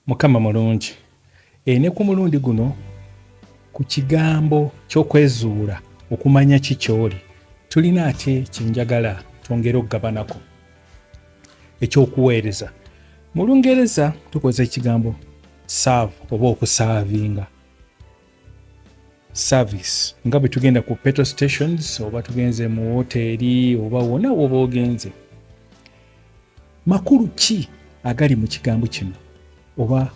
Mukama mulungi e, ne ku mulundi guno ku kigambo ky'okwezuula okumanya ki ky'oli tulina ate kyenjagala twongere okugabanako ekyokuweereza mu lungereza tukozesa ekigambo serve oba okusaavinga service nga bwe tugenda ku petrol stations oba tugenze mu woteeri oba wona woba ogenze makulu ki agali mu kigambo kino oba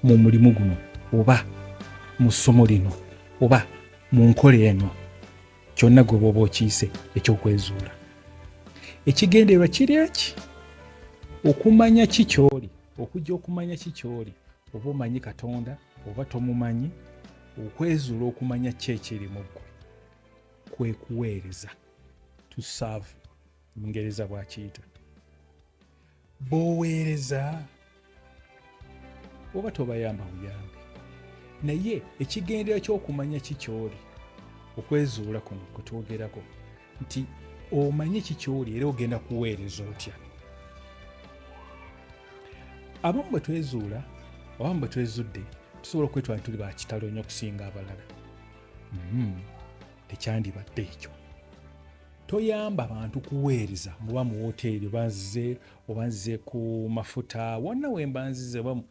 mu mulimu guno oba mu ssomo lino oba mu nkola eno kyonna gwe bwoba okiise ekyokwezuula ekigendererwa kiri eki okumanya ki kyoli okujja okumanya ki kyoli oba omanyi katonda oba tomumanyi okwezuula okumanya ki ekiri mu ggwe kwe kuweereza to serve mungereza bwakiyita b'oweereza oba tobayamba buyambi naye ekigendera ky'okumanya ki kyoli okwezuula kuno kwe twogerako nti omanyi ki kyoli era ogenda kuweereza otya abamu bwe twezuula abamu bwe twezudde tusobola okwetwala tuli ba kitalo nnyo okusinga abalala mm-hmm. tekyandibadde ekyo toyamba bantu kuweereza muba mu woteeri obanzize obanzize ku mafuta wonna wembanzize oba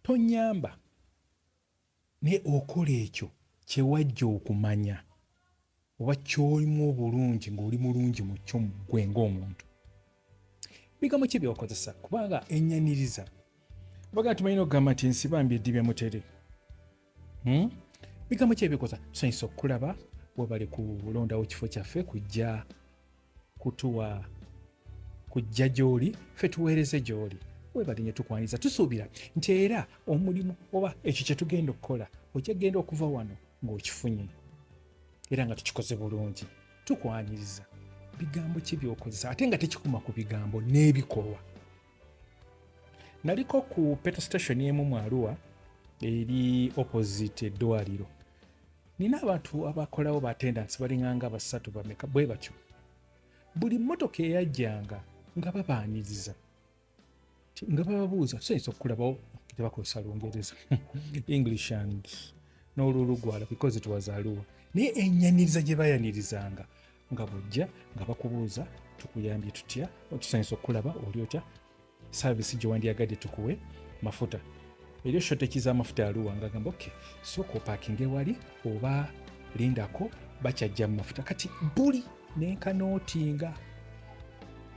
tonyamba Naye okola ekyo kye wajja okumanya, oba ky'olimu obulungi, nga oli mulungi mu kyo, ggwe nga omuntu. Bigambo ki by'okozesa? Kubanga ennyaniriza, bagamba nti balina okugamba nti nsibambi eddibya mutere. Hmm? Bigambo ki ebikoza? Tusanyusa okukulaba, webale kulondawo kifo kyaffe kujja kutuwa kujja gy'oli ffe tuweereze gy'oli webali nyo tukwaniriza tusuubira nti era omulimu oba ekyo kye tugenda okukola ojja kugenda okuva wano ng'okifunye era nga tukikoze bulungi tukwaniriza bigambo ki byokozesa ate nga tekikuma ku bigambo n'ebikolwa naliko ku peto station emu mu aluwa eri opposite eddwaliro nina abantu abakolawo ba tendansi balinganga basatu bameka bwe batyo buli mmotoka eyajjanga nga babaaniriza nga bababuuza tusainza okukulabawo tebakozesa lungereza english and n'olulugwala because it was aluwa naye enyaniriza gye bayanirizanga nga bujja nga bakubuuza tukuyambye tutya tusainza okukulaba oli otya saavisi gye wandyagadde tukuwe mafuta eri oshoteeki z'amafuta yaluwa nga agamba oke sooka opakinge wali oba lindako bakyajja mu mafuta kati buli nenkanootinga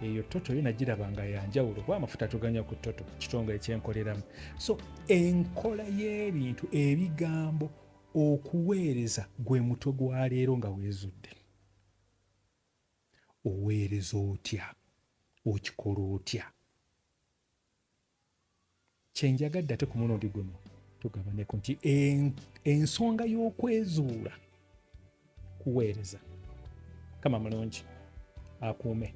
eyo toto yo nagiraba nga yanjawulo kuba amafuta tuganya ku toto kitongole kyenkoleramu so enkola y'ebintu ebigambo okuweereza gwe mutwe gwa leero nga weezudde oweereza otya okikola otya kyenjagadde ate ku mulundi guno tugabaneko nti ensonga y'okwezuula kuweereza kama mulungi akuume